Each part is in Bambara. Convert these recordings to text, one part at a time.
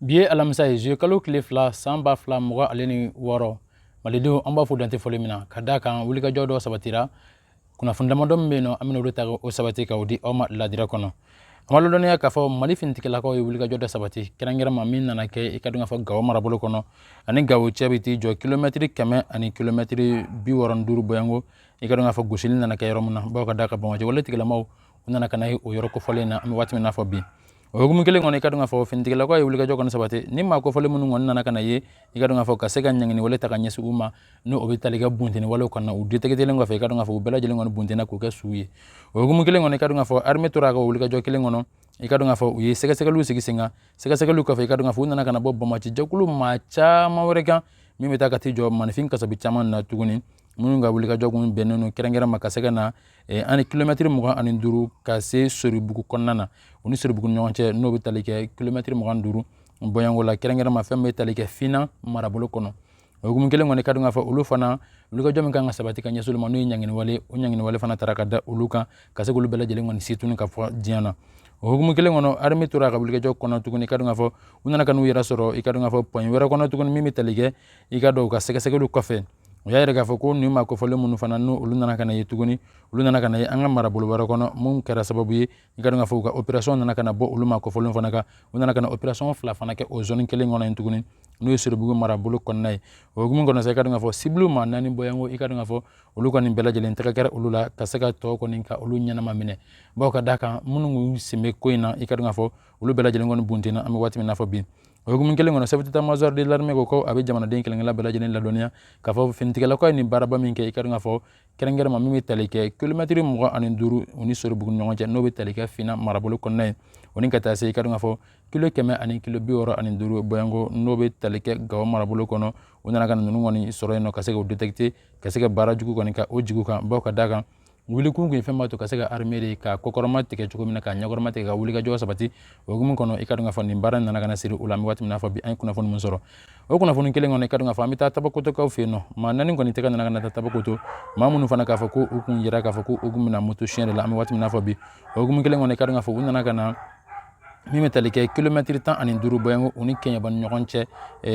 bi ye alamisa ye zuluye kalo tile fila san ba fila mugan ale ni wɔɔrɔ malidenw an b'aw fo dan tɛ foli min na ka d' a kan wulikajɔ dɔ sabatira kunnafoni damadɔ min bɛ yen nɔ an bɛna olu ta o sabati ka di aw ma ladira kɔnɔ an b'aw ladɔnniya k'a fɔ mali finitigilakaw ye wulikajɔ dɔ sabati kɛrɛnkɛrɛnma min nana kɛ i ka dɔn k'a fɔ gawo marabolo kɔnɔ ani gawo cɛ bɛ t'i jɔ kilomɛtiri kɛmɛ ani kilomɛtiri bi wɔɔrɔ ni duuru bɔɲɔgɔnko i ka dɔn k'a fɔ gosili nana kɛ yɔrɔ min na bawo ka d'a kan banbaganci wale tigilamaw u nana ka na ye o yɔrɔ kofɔlen na an bɛ waati min na fɔ bi o hukumu kelen kɔnɔ i ka dɔn k'a fɔ finitigilakaw ye wulikajɔ kɔni sabati ni maa kofɔlen minnu kɔni nana ka na ye i ka dɔn k'a fɔ ka se ka ɲangini wale ta ka ɲɛsin u ma ni o bɛ tali kɛ bunteni walew kɔnɔna u detɛkitelen kɔfɛ i ka dɔn k'a fɔ u bɛɛ lajɛlen kɔni buntenna k'u kɛ suw ye o hukumu kelen kɔnɔ i ka dɔn k'a fɔ arme tora a ka wulikajɔ kelen kɔnɔ i ka dɔn k'a fɔ u ye sɛgɛsɛgɛliw sigi sen kan sɛgɛsɛgɛliw kɔfɛ i ka dɔn k'a fɔ u nana ka na bɔ banbaganci jɛkulu maa caman wɛrɛ kan min bɛ taa ka t'i jɔ maaninfin kasabi caman na tuguni minnu ka wulikajɔ kun bɛnnen don kɛrɛnkɛrɛn ma ka se ka na eh, ani kilomɛtiri mugan ani duuru ka se soribugu kɔnɔna na u ni soribugu ɲɔgɔn cɛ n'o bɛ tali kɛ kilomɛtiri mugan ni duuru bɔɲɔgɔnko la kɛrɛnkɛrɛn ma fɛn bɛ tali kɛ fina marabolo kɔnɔ o hukumu kelen kɔnɔ i ka dɔn k'a fɔ olu fana wulikajɔ min kan ka sabati ka ɲɛsin olu ma n'o ye ɲanginiwale o ɲanginiwale fana tara ka da olu kan ka se k'olu bɛɛ lajɛlen kɔni si tunu ka bɔ diɲɛ na o hukumu kelen kɔnɔ arme tora a ka wulikajɔ kɔnɔ tuguni i ka dɔn k'a fɔ u nana ka n'u yɛrɛ sɔrɔ i ka dɔn k'a fɔ point wɛrɛ kɔnɔ tuguni min bɛ tali kɛ i ka dɔn u ka sɛgɛsɛgɛliw kɔfɛ u y'a yira k'a fɔ ko nin maa kofɔlen minnu fana n' olu nana ka na ye tuguni olu nana ka na ye an ka marabolo wɛrɛ kɔnɔ minnu kɛra sababu ye i ka dɔn k'a fɔ u ka operasɔn nana ka na bɔ olu maa kofɔlen fana kan u nana ka na operasɔn fila fana kɛ o zɔni kelen kɔnɔ yen tuguni n'o ye soribugu marabolo kɔnɔna ye o hukumu kɔnɔ sa i ka dɔn k'a fɔ sibiliw maa naani bɔɲɔgɔnko i ka dɔn k'a fɔ olu kɔni bɛɛ lajɛlen tɛgɛ kɛra olu la ka se ka tɔw kɔni ka olu ɲɛnama minɛ bawo ka d'a kan minnu sen bɛ ko in na i ka dɔn k'a fɔ olu bɛɛ lajɛlen kɔni buntenna an bɛ waati min na fɔ bi o hukumu kelen kɔnɔ chef d'état-major de l'armée ko ko a bɛ jamanaden kelenkelen bɛɛ lajɛlen ladɔnniya k'a fɔ finitigilakaw ye nin baaraba min kɛ i ka dɔn k'a fɔ kɛrɛnkɛrɛnma min bɛ tali kɛ kilomɛtiri mugan ani duuru u ni soribugu ni ɲɔgɔn cɛ n'o bɛ tali kɛ fina marabolo kɔnɔna ye o ni ka taa se i ka dɔn k'a fɔ kilo kɛmɛ ani kilo bi wɔɔrɔ ani duuru bɔɲɔgɔnko n'o bɛ tali kɛ gawo marabolo kɔnɔ u nana ka ninnu kɔni sɔrɔ yen nɔ ka se k'o detɛkite ka se ka baara jugu kɔni ka o jigin u kan bawo ka d'a kan wulikun kun fɛn b'a to ka se ka armée de ka kɔkɔrɔma tigɛ cogo min na ka ɲɛkɔrɔma tigɛ ka wulikajɔ sabati o hukumu kɔnɔ i ka dɔn k'a fɔ nin baara nana ka na siri o la an bɛ waati min na fɔ bi an ye kunnafoni min sɔrɔ o kunnafoni kelen kɔnɔ i ka dɔn k'a fɔ an bɛ taa tabakotokaw fɛ yen nɔ maa naani kɔni tɛgɛ nana ka na taa tabakoto maa minnu fana k'a fɔ ko u kun yira k'a fɔ ko u kun bɛna moto sonyɛ de la an bɛ waati min na fɔ bi o hukumu kelen kɔnɔ i ka dɔn k'a fɔ u nana ka na min bɛ tali kɛ kilomɛtiri tan ani duuru bɔɲɔgɔnko u ni kɛɲɛba ni ɲɔgɔn cɛ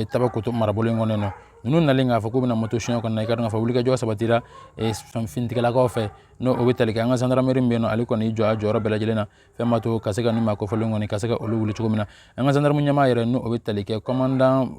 tabakoto marabolo in kɔnɔ yen nɔ ninnu nalen k'a fɔ k'u bɛna moto sonyɛ kɔnɔna i ka dɔn k'a fɔ wulikajɔ sabatira eh, finitigilakaw fɛ n'o o bɛ tali kɛ an ka zandarameri min bɛ yen nɔ ale kɔni jɔ a jɔyɔrɔ bɛɛ lajɛlen na fɛn b'a to ka se ka nin maa kofɔlen kɔni ka se ka olu wuli cogo min na an ka zandarmu ɲɛmaa yɛrɛ n'o o bɛ tali kɛ kɔmandan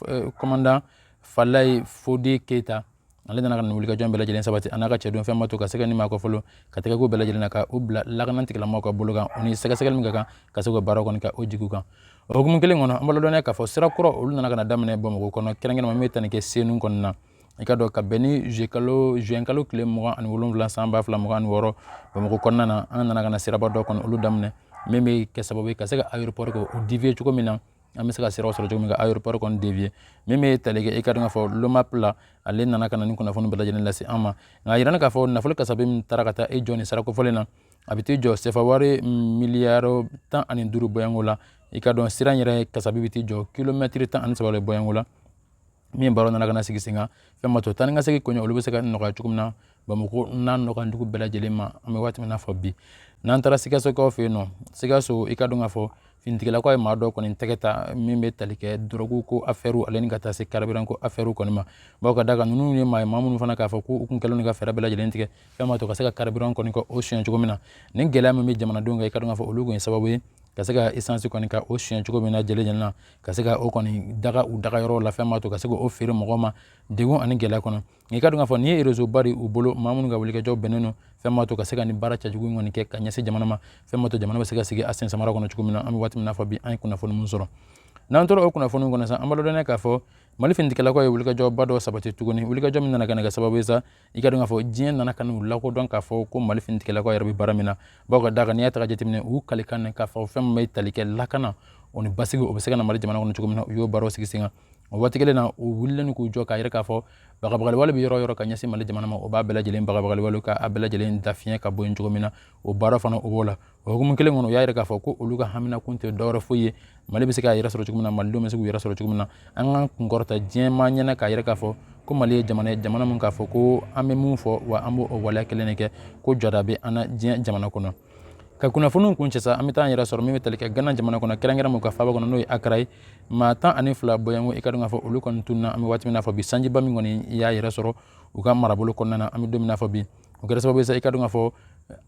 eh, kɔmandan falayi fode keyita ale nana ka nin wulikajɔ bɛɛ lajɛlen sabati a n'a ka cɛdenw fɛn b'a to ka se ka nin maa kofɔlen ka tɛgɛ k'u bɛɛ lajɛlen na ka u bila lakana tigilamɔgɔw ka bolo kan u ni sɛgɛsɛgɛli min ka kan ka se ka baaraw kɔni ka o jigin u kan o hukumu kelen kɔnɔ an b'a ladɔnniya k'a fɔ sira kura olu nana ka na daminɛ bamakɔ kɔnɔ kɛrɛnkɛrɛnma min bɛ tali kɛ senu kɔnɔna i ka dɔn ka bɛn ni juye kalo juin kalo tile mugan ani wolonwula san ba fila mugan ani wɔɔrɔ bamakɔ kɔnɔna na an nana ka na siraba dɔ kɔnɔ olu daminɛ min bɛ kɛ sababu ye ka se ka aéroport kɛ o dévier cogo min na an bɛ se ka siraw sɔrɔ cogo min ka aéroport kɔni dévier min bɛ tali kɛ i ka dɔn k'a fɔ lomap la ale nana ka na ni kunnafoni bɛɛ lajɛlen lase an ma nka a yirana k'a fɔ nafolo kasabi min taara ka taa i jɔ nin sira kofɔlen na a bɛ t'i jɔ sɛfawari miliyari tan ani duuru bɔɲɔgɔnko la i ka dɔn sira in yɛrɛ kasabi bɛ t'i jɔ kilomɛtiri tan ani saba bɔɲɔgɔnko la min baaraw nana ka na sigi sen kan fɛn ma to taa ni ka segin koɲɛ olu bɛ se ka nɔgɔya cogo min na bamakɔ n'a nɔgɔya dugu bɛɛ lajɛlen ma an bɛ waati min na fɔ bi n'an taara sikasokaw fɛ yen nɔ sikaso i ka dɔn k'a fɔ finitigilakaw ye maa dɔ kɔni tɛgɛ ta min bɛ tali kɛ dɔrɔgu ko affaire ale ni ka taa se carburant ko affaire kɔni ma bawo ka da kan ninnu ye maa ye maa minnu fana k'a fɔ ko u tun kɛlen don ka fɛɛrɛ bɛɛ lajɛlen tigɛ fɛn ma to ka se ka carburant kɔni ka o sonyɛ cogo min na ni gɛlɛya min bɛ jamanadenw kan i ka dɔn k'a fɔ olu tun ye sababu ye ka se ka essence kɔni ka o sonyɛ cogo min na jɛlen jɛlen na ka se ka o kɔni daga u daga yɔrɔw la fɛn ma to ka se k'o feere mɔgɔw ma degun ani gɛlɛya kɔnɔ nka i ka dɔn k'a fɔ nin ye réseau ba de u bolo maa minnu ka wulikajɔw bɛnnen don fɛn ma to ka se ka nin baara cɛjugu in kɔni kɛ ka ɲɛsin jamana ma fɛn ma to jamana bɛ se ka sigi a sen samara kɔnɔ cogo min na an bɛ waati min na fɔ bi an ye kunnafoni min sɔrɔ n'an tora o kunnafoniw kɔnɔ sisan an b'a ladɔnniya k'a fɔ mali finitigilakaw ye wulikajɔba dɔ sabati tuguni wulikajɔ min nana ka na kɛ sababu ye sa i ka dɔn k'a fɔ diɲɛ nana ka n'u lakodɔn k'a fɔ ko mali finitigilakaw yɛrɛ bɛ baara min na bawo ka da kan n'i y'a ta k'a jateminɛ u kalikan nin k'a fɔ fɛn min bɛ tali kɛ lakana o ni basigi o bɛ se ka na mali jamana kɔnɔ cogo min na u y'o baaraw sigi sen kan o waati kelen na u wulilen k'u jɔ k'a yira k'a fɔ bagabagaliwale bɛ yɔrɔ o yɔrɔ ka ɲɛsin mali jamana ma o b'a bɛɛ lajɛlen bagabagaliwale ka a bɛɛ lajɛlen dafiɲɛ ka bɔ yen cogo min na o baara fana o b'o la o hukumu kelen kɔnɔ u y'a yira k'a fɔ ko olu ka haminakun tɛ dɔwɛrɛ foyi ye mali bɛ se k'a yɛrɛ sɔrɔ cogo min na malidenw bɛ se k'u yɛrɛ sɔrɔ cogo min na an k'an kunkɔrɔta diɲɛmaa ɲɛ na k'a yira k'a fɔ ko mali ye jamana ye jamana min k'a fɔ ko an bɛ mun fɔ wa an b'o waleya kelen de kɛ ko jɔda bɛ an na diɲɛ jamana kɔnɔ ka kunnafoniw kun cɛ sa an bɛ taa an yɛrɛ sɔrɔ min bɛ tali kɛ gana jamana kɔnɔ kɛrɛnkɛrɛnma u ka faaba kɔnɔ n'o ye akara ye maa tan ani fila bɔɲɔgɔnko i ka dɔn k'a fɔ olu kɔni tununa an bɛ waati min n'a fɔ bi sanjiba min kɔni y'a yɛrɛ sɔrɔ u ka marabolo kɔnɔna na an bɛ don min n'a fɔ bi o kɛra sababu ye sa i ka dɔn k'a fɔ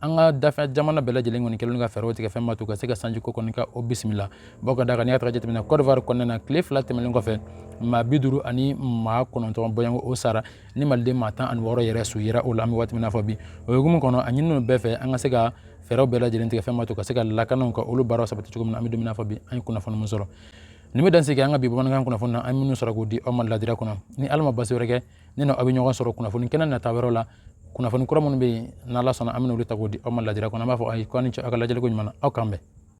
an ka dafɛ jamana bɛɛ lajɛlen kɔni kɛlen ka fɛɛrɛw tigɛ fɛn ma to ka se ka sanji ko kɔni ka o bisimila bawo ka da kan n'i y'a ta k'a jateminɛ kɔdiwari kɔnɔna na tile fila tɛmɛnen kɔfɛ maa bi duuru ani maa kɔnɔntɔn bɔɲɔgɔnko o sara ni maliden maa tan ani wɔɔrɔ yɛrɛ su yera o la an bɛ waati min na fɔ bi o hukumu kɔnɔ a ɲininen bɛɛ fɛ an ka se ka fɛɛrɛw bɛɛ lajɛlen tigɛ fɛn ma to ka se ka lakanaw ka olu baaraw sabati cogo min na an bɛ don min na fɔ bi an ye kunnafoni min sɔrɔ nin bɛ dan sigi an ka bi bamanankan kunnafoni na an minnu sɔrɔ k'o di aw ma ladiriya kɔnɔ ni ala ma baasi wɛrɛ kɛ ne n'aw bɛ ɲɔgɔn sɔrɔ kunnafoni kɛnɛ nata wɛrɛ la kunnafoni kura minnu bɛ yen n'ala sɔnna an bɛna olu ta k'o di aw ma ladiriya kɔnɔ an b'a fɔ aw ye k'aw ni ce aw ka lajɛliko ɲuman na aw k'an bɛn